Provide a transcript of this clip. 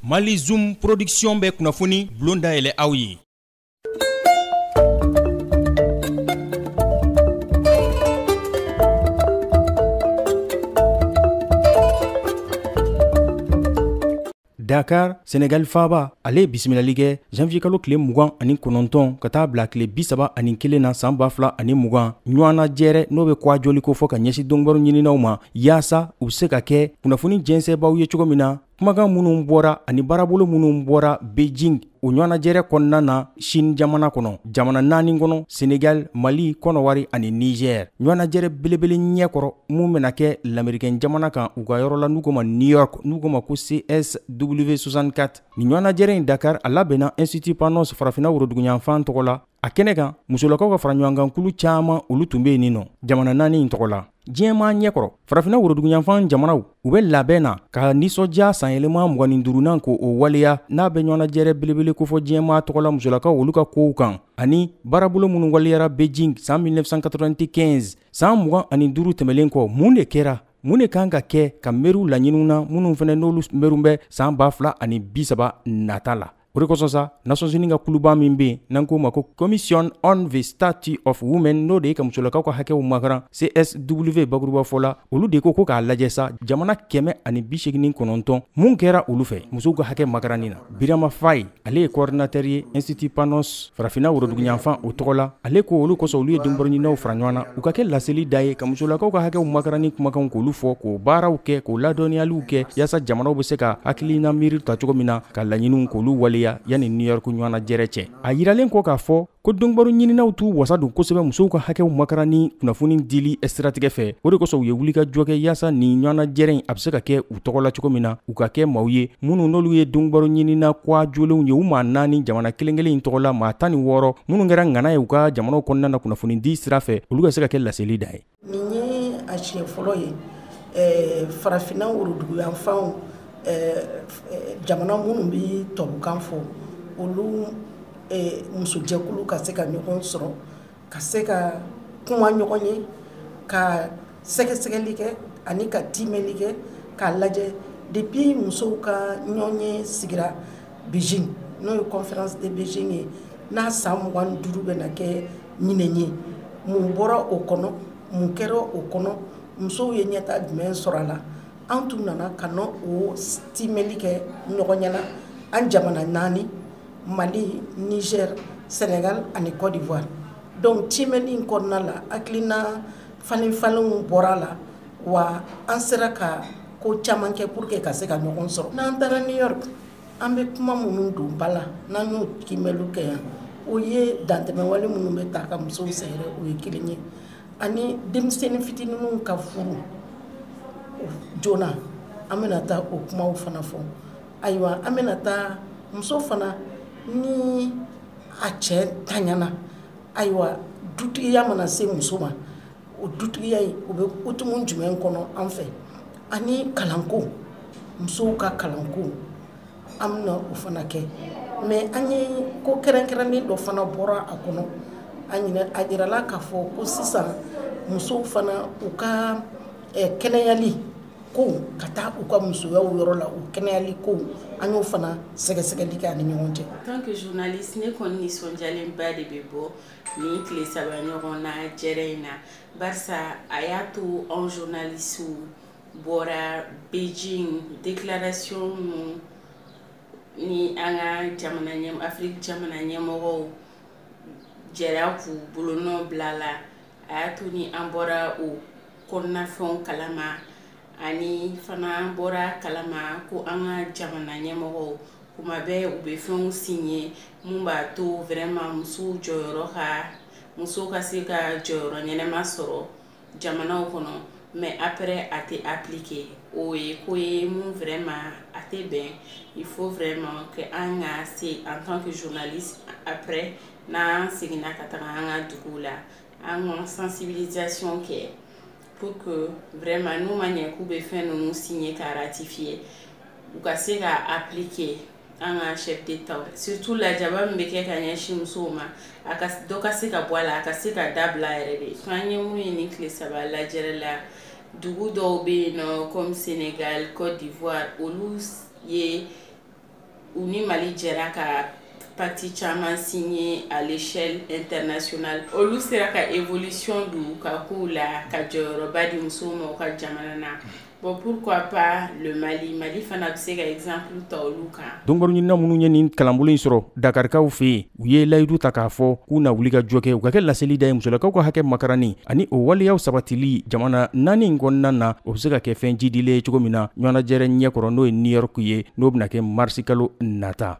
mali zoom production bɛ kunnafoni bulon dayɛlɛ aw ye dakar senegali faaba ale ye bisimilali kɛ janvier kalo tile mugan ani kɔnɔntɔn ka taa bila tile bisaba ani kelen na san ba fila ani mugan ɲɔgɔnna jɛrɛ n'o bɛ kuwa joli kofɔ ka ɲɛsin donbaro ɲininaw ma yaasa u bɛ se ka kɛ kunnafoni jɛnsɛnbaaw ye cogo min na kumakan minnu bɔra ani baarabolo minnu bɔra beijing o ɲɔgɔnnajɛrɛ kɔnɔna na chine jamana kɔnɔ jamana naani kɔnɔ senegali mali kɔnɔwari ani niger ɲɔgɔnnajɛrɛ belebele ɲɛkɔrɔ min bɛna kɛ lamerikɛn jamana kan u ka yɔrɔ la n'u k'o ma new york n'u k'o ma ko csw64 nin ɲɔgɔnnajɛrɛ in dakar a labɛnna institut panos farafinna woroduguyanfan tɔgɔ la a kɛnɛ kan musolakaw ka faraɲɔgɔnkankulu caaman olu tun bɛ yen nin nɔ jamana naani in tɔgɔ la diɲɛmaa ɲɛkɔrɔ farafinna woroduguyanfan jamanaw u bɛ labɛn na ka nisɔndiya sanyɛlɛma mugan ni duurunan ko o waleya n'a bɛ ɲɔgɔnajɛrɛ belebele kofɔ diɲɛmaa tɔgɔ la musolakaw olu ka kow kan ani baarabolo minnu waleyara beijing san 1995 san mugan ani duuru tɛmɛlen kɔ mun de kɛra mun de kan ka kɛ ka mɛru laɲiniw na minnu fana n'olu mɛru bɛ san ba fila ani bisaba nata la O de kosɔn sa Nations Unies ka kuluba min bɛ yen n'an k'o ma ko Commission on the Status of Women n'o de ye ka musolakaw ka hakɛw makaran CSW bakurubafɔ la, olu de ko ko k'a lajɛ sa jamana kɛmɛ ani bi seegin kɔnɔntɔn mun kɛra olu fɛ musow ka hakɛ makaranni na. Birama Faye ale ye coordinateur ye Institut Panos farafinna woroduguyanfan o tɔgɔ la ale ko olu kosɔn olu ye donbaro ɲininaw fara ɲɔgɔn na u ka kɛ laseli da ye ka musolakaw ka hakɛw makaranni kumakanw k'olu fɔ k'o baaraw kɛ k'o ladɔnniyaliw kɛ yaasa jamanaw bɛ se ka hakilina miiri ta cogo min na ka laɲiniw k'olu waleya yanni new york ɲɔgɔnnajɛrɛ cɛ a yiralen kɔ k'a fɔ ko donbaro ɲininaw t'u wasa don kosɛbɛ musow ka hakɛw makaranni kunnafoni dili siratigɛ fɛ o de kosɔn u ye wulikajɔ kɛ yaasa nin ɲɔgɔnnajɛrɛ in a bɛ se ka kɛ tɔgɔ la cogo min na u ka kɛ maaw ye minnu n'olu ye donbaro ɲinina kwa jolenw ye u maa naani jamana kelenkelen in tɔgɔ la maa tan ni wɔɔrɔ minnu kɛra ŋana ye u ka jamanaw kɔnɔna na kunnafoni di sira fɛ olu ka se ka kɛ laseli da ye nin ye a siɲɛ fɔlɔ ye eh, farafinna woroduguyanfanw eh, eh, jamana minnu bɛ tubabukan fɔ olu musojɛkulu ka se ka ɲɔgɔn sɔrɔ ka se ka kuma ɲɔgɔn ye ka sɛgɛsɛgɛli kɛ ani ka timɛli kɛ k'a lajɛ depuis musow ka ɲɔgɔnye sigira beijing n'o ye conférence de beijing ye n'a san mugan ni duuru bɛna kɛ ɲinɛn ye mun bɔra o kɔnɔ mun kɛra o kɔnɔ musow ye ɲɛtaa jumɛn sɔrɔ a la an tun nana ka na o timɛli kɛ ɲɔgɔn ɲɛna an jamana naani Mali Niger Senegal ani Cote d'Ivoire donc kiimɛli in kɔnɔna la hakilina falenfalenw bɔra la wa an sera ka ko caman kɛ pour que ka se ka ɲɔgɔn sɔrɔ n'an taara New York an bɛ kuma minnu don ba la n'an y'o kiimɛliw kɛ yan o ye dantɛmɛwale minnu bɛ taa ka musow sɛgɛrɛ o ye kelen ye ani denmisɛnnin fitininw ka furu joona an bɛna taa o kumaw fana fɔ ayiwa an bɛna taa muso fana ni a cɛ taɲana ayiwa dutigiya mana se muso ma o dutigiya in o bɛ hukumu jumɛn kɔnɔ an fɛ ani kalanko musow ka kalanko an bɛna o fana kɛ mais an ye ko kɛrɛnkɛrɛnnen dɔ fana bɔra a kɔnɔ a a yirala k'a fɔ ko sisan musow fana u ka kɛnɛyali ko ka taa u ka musoyaw yɔrɔ la u kɛnɛyali ko an y'o fana sɛgɛsɛgɛli kɛ an ni ɲɔgɔn cɛ en tant que journaliste ne kɔni nisɔndiyalenba de bɛ bɔ nin tile saba ɲɔgɔnnajɛrɛ in na barisa a y'a to anw journalistew bɔra Beijing déclaration ninnu ni an ka jamana ɲɛmɔgɔ Afrique jamana ɲɛmɔgɔw jɛra k'u bolonɔ bila a la a y'a to ni an bɔra o kɔnɔnafɛnw kalama ani fana bɔra kalama ko an ka jamana ɲɛmɔgɔw kuma bɛɛ u bɛ fɛnw signer mun b'a to vraiment musow jɔyɔrɔ ka musow ka se ka jɔyɔrɔ ɲɛnama sɔrɔ jamanaw kɔnɔ mais après a tɛ appliqué o ye ko ye min vraiment a tɛ bɛn il faut vraiment que an ka se en tant que journaliste après n'an seginna ka taga an ka dugu la an ka sensibilisation kɛ pour que vraiment n'u ma ɲɛ k'u bɛ fɛn ninnu signer ka ratifier u ka se ka appliquer an ka chef d'état surtout lajaba min bɛ kɛ ka ɲɛsin musow ma a ka dɔ ka se ka bɔ a la a ka se ka dabila yɛrɛ de fo an ye mun ye nin tile saba lajɛrɛ la dugu dɔw bɛ yen nɔ comme Senegal Cote d'Ivoire olu ye u ni mali jɛra ka pacte caman signer à l'échelle internationale olu sera ka évolution don u ka kow la ka jɔyɔrɔba di musow ma u ka jamana na bon pourquoi pas le mali mali fana bɛ se ka exemple ta olu kan dɔnkoɲinina minnu ye nin kalanbolo in sɔrɔ dakarikaw fɛ yen u ye layidu ta k'a fɔ k'u na wulikajɔ kɛ u ka kɛ laseli da ye musolakaw ka hakɛ makaranni ani o waleyaw sabatili jamana naani in kɔnɔna na o bɛ se ka kɛ fɛn jidilen ye cogo min na ɲɔgɔnnajɛrɛ ɲɛkɔrɔ n'o ye new york ye n'o bɛna kɛ marisikalo nata